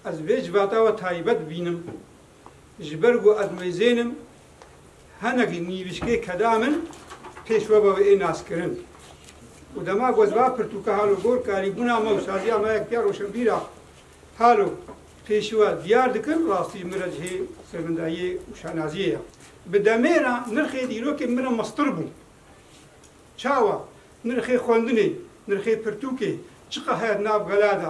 Ez vê civata we taybet bînim, ji ber ku ez mêzên im, hinek ji nîvîşkê keda min pêş we ve ê naskirin û dema ku ez va pirtûka halo gor karîbûna me û saziya me yektiya roşenbîra halo pêşî we diyar dikin, rastî min re cihê sermindayiyê û şanaziyê ye. Bi demê re nirxê dîrokên min re mestir bû. Çawa? Nirxê xwendinê, nirxê pirtûkê, çiqas heye di nav gela de,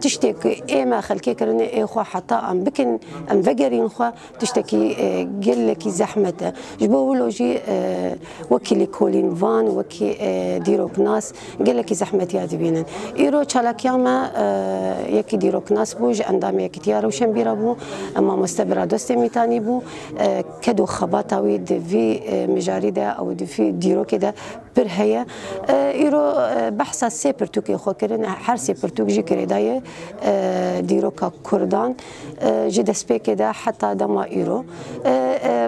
Tiştê ku ê me xelkê kirinê ê xwe heta em bikin, em vegerîn xwe tiştekî gelekî zehmet e. Ji bo wilo jî wekî lêkolîn van, wekî dîroknas gelekî zehmetiya dibînin. Îro çalakiya me yekî dîroknas bû, ji endamê Yekîtiya Rewşenbîr re bû, mamoste Biradostê Mîtanî bû. Ked û xebata wî di vî mijarî de û di vî dîrokê de Pir heye. Îro behsa sê pirtûkên xwe kirin. Her sê pirtûk jî girêdayê dîroka kurdan ji destpêkê de heta dema îro.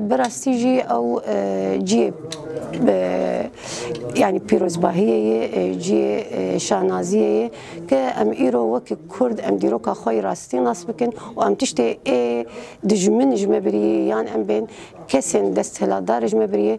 Bi rastî jî ew ciyê yanî pîrozbahiyê yê, ciyê şanaziyê yê ke em îro wekî kurd em dîroka xwe yê rastî nas bikin û em tiştê ê dijmin ji me birî yan em bên kesên desthilatdar ji me birî yê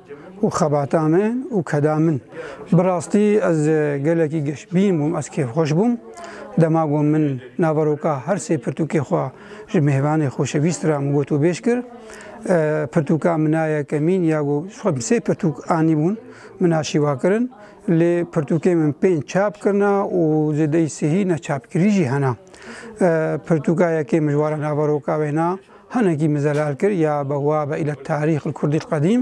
û xebata min û keda min. Bi rastî ez gelekî geşbîn bûm, ez kêfxweş bûm. Dema ku min naveroka her sê pirtûkê xwe ji mêvanê xoşewîst re min gotûbêj kir, pirtûka min a yekemîn ya ku xwe bi sê pirtûk anîbûn min a şîva kirin. Lê pirtûkê min pênc çap kirina û zêdeyî sihî neçapkirî jî hene. Pirtûka yekê min ji wara naveroka wêna Hinekî min zelal kir ya be wa be île tarîx li kurdî qedîm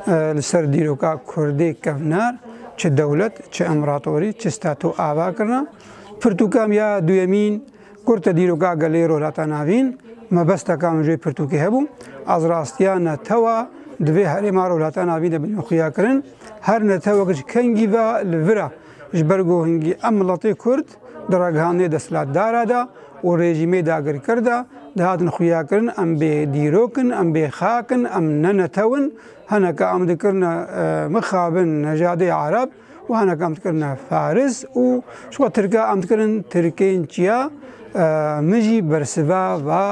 li ser dîroka kurdê kevnar çi dewlet çi împeratorî çi stato ava kirina. Pirtûka min ya duyemîn kurte dîroka gelê Rojhilata Navîn. Mebesteka min ji wê pirtûkê hebû ez rastiya netewa di vê herêma Rojhilata Navîn de bidin xuyakirin. Her netewek ji kengî ve li vir e. Ji ber ku hingî em miletê kurd, Di ragihandinê desthilatdara de û rejîmê dagirker de dihatin xuyakirin em bê dîrok in, em bê xak in, em ne netew in, hineke em dikirine mixabin nejadê ereb û hineke em dikirine faris û ji xwe tirke em dikirin tirkên çiya min jî bersiva va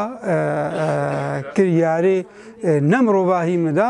kiryarê ne mirovahî min de.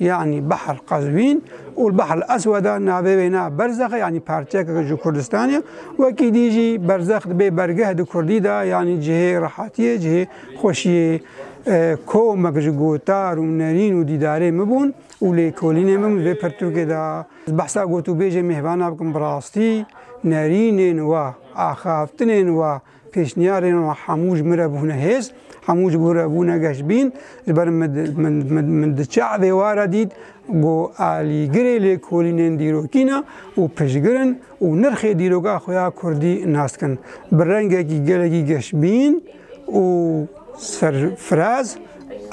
Yanî Behr Qezwîn û Behr Eswed e navê wêne Berzex e yanî parçeyeke ji Kurdistanê. Wekî dî jî Berzex dibê bergeh di Kurdî de yanî cihê rehatiyê, cihê xweşiyê komek ji gotar û nerîn û dîdarê min bûn û lêkolînên min vê pirtûkê de. Ez behsa gotûbêjê mêvana bikim bi rastî nerînên we, axaftinên we, Pêşniyarên wan hemû ji min re bûne hêz, hemû ji bo re bûne geşbîn. Ji ber min diçe evê ware dît ku alîgirê lêkolînên dîrokî ne û piştgir in û nirxê dîroka xwe ya kurdî nas dikin bi rengekî gelekî geşbîn û serfiraz.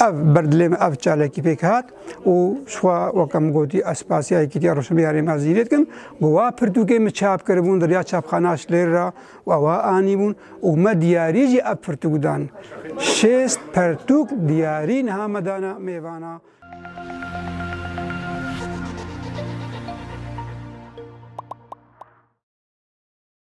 Ev ber dilê min ev çalakî pêk hat û ji xwe weke min gotî ez spasîya Yekîtiya Rojhilatê ya Rêmezîrê dikim ku wa pirtûkên min çap kiribûn di riya çapxana Şilêr re. We wiha anîbûn û me diyarî jî ev pirtûk dan. Şêst pertûk diyarî niha me dana mêvana.